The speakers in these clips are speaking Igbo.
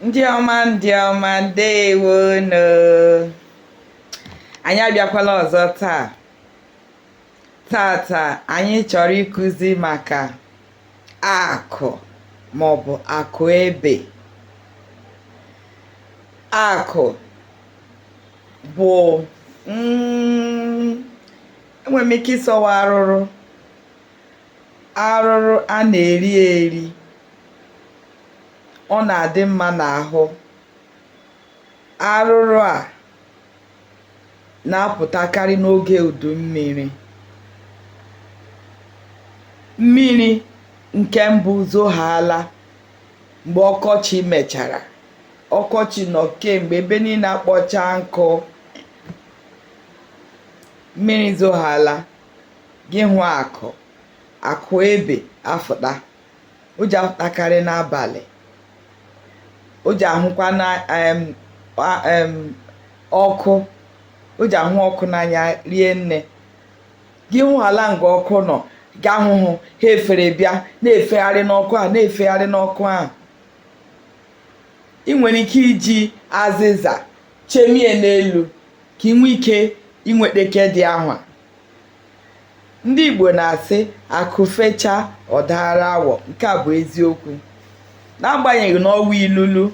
ndị ọma ndị ọma ndewo nu anyị abịakwala ọzọ taa tata anyị chọrọ ịkụzi maka akụ maọbụ akụ ebe akụ bụ mm, enwere m ike ịsị ọ wụ arụrụ arụrụ a na-eri eri ọ na-adị mma n'ahụ arụrụ a na-apụtakarị n'oge udu mmiri mmiri nke mbụ zohaala mgbe ọkọchị mechara ọkọchị nọ kemgbe ebe niile akpọcha nkụ mmiri zohaala gị hụ akụ akụ ebe afụta o ji afụtakarị n'abalị o ji ahụkwa na em a- em ọkụ o ji ahụ ọkụ n'anya rie nne gị hụhaala nga ọkụ nọ ga-ahụhụ ha efere bịa na-efegharị n'ọkụ a na-efegharị n'ọkụ a ị nwere ike iji azịza chemie n'elu ka ị nwee ike inwete nke dị ahụ ndị Igbo na-asị akụ fecha ọ daara awọ nke a bụ eziokwu n'agbanyeghị na ọ wụ ilulu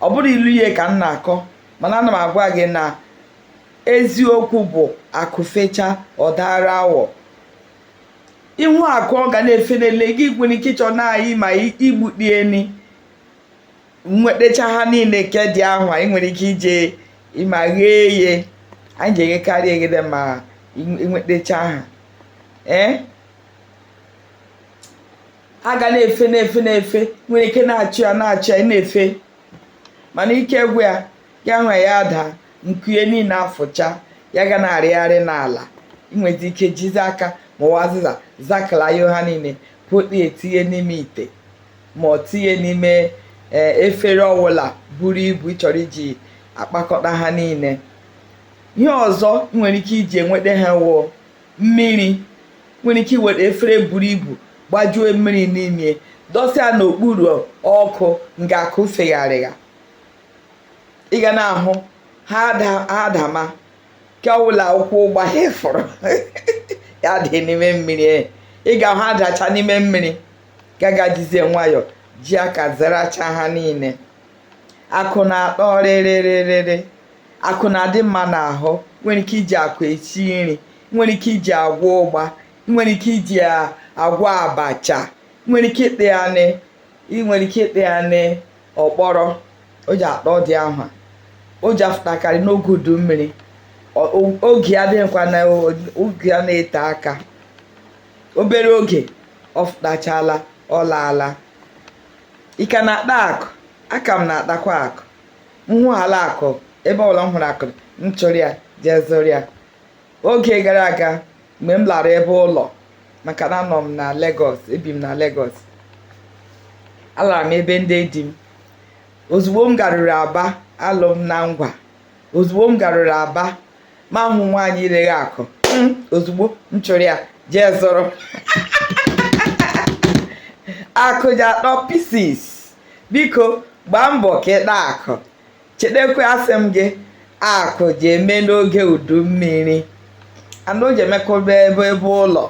ọ bụrụ ilu ihe ka m na-akọ mana ana m agwa gị na eziokwu bụ akụ fecha ọ daara awọ ị hụ akụ ọ ga na-efe n'elu gị nwere ike ịchọ na-ayị ma igbukpie ni nwetacha ha niile nke dị ahụ a ị nwere ike ije ma ghee ye anyị ji eghekarị eghede ma nwetacha ha ee ha ga na-efe na-efe na-efe nwere ike na-achụ ya na-achụ ya na-efe mana ike gwụ ya gị ahụ ya adaa nku ye niile afụcha ya ga na-arịgharị n'ala ị nwere ike jizi aka ma ọ wụ azịza zakalayo ha niile pụta etinye n'ime ite ma ọ tinye n'ime e, efere ọwụla buru ibu ị chọrọ iji akpakọta ha niile ihe ọzọ nwere ike iji enweta ha wụ mmiri nwere ike iwere efere buru ibu gbajuo mmiri n'ime dọsa n'okpuru ọkụ nga akụ fegharịgha ị ga na-ahụ ha adama nke ọbụla ụkwụ gbahafụrụ ya dị n'ime mmiri ị ga-ahụ adacha n'ime mmiri gagajizie nwayọọ ji aka zaracha ha niile akụ na-atọ rịrịrịrịrị akụ na-adị mma n'ahụ i nwere ike iji akụ esi nri i nwere ike iji agwa ụgba i nwere ike iji agwa abacha i nwere ike ịta ya n'ọkpọrọ o ji atọ dị ahụ o ji afụtakarị n'oge udu mmiri oge ya adịghịkwa na oge ya na-ete aka obere oge ọ fụtachala ọ laala ị ka na-ata akụ aka m na-atakwa akụ m hụhala akụ ebe ọbụla m hụrụ akụ m chụrụ ya jee zụrụ ya oge gara aga mgbe m lara ebe ụlọ maka na anọ m na Lagos ebi m na Lagos alara m ebe ndị di m ozugbo m garuru aba alụ m na ngwa ozugbo m garuru aba m ahụ nwaanyị reghe akụ hmm, ozugbo m chụrụ ya jee zụrụ akụ ji atọ pieces biko gbaa mbọ ka ị taa akụ chetakwa asị m gị akụ ji eme n'oge udu mmiri mana o ji emekọba ebe ebe ụlọ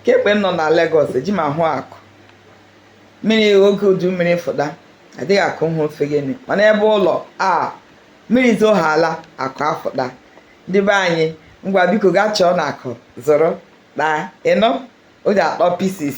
kemgbe m nọ na Lagos eji m ahụ akụ mmiri oge udu mmiri fụta adịghị akụ hụ ofe gịnị mana ebe ụlọ a mmiri zoohala akụ afụta ndị be anyị ngwa biko gaa chọọ na akụ zụrụ taa ịnụ o ji atọ pieces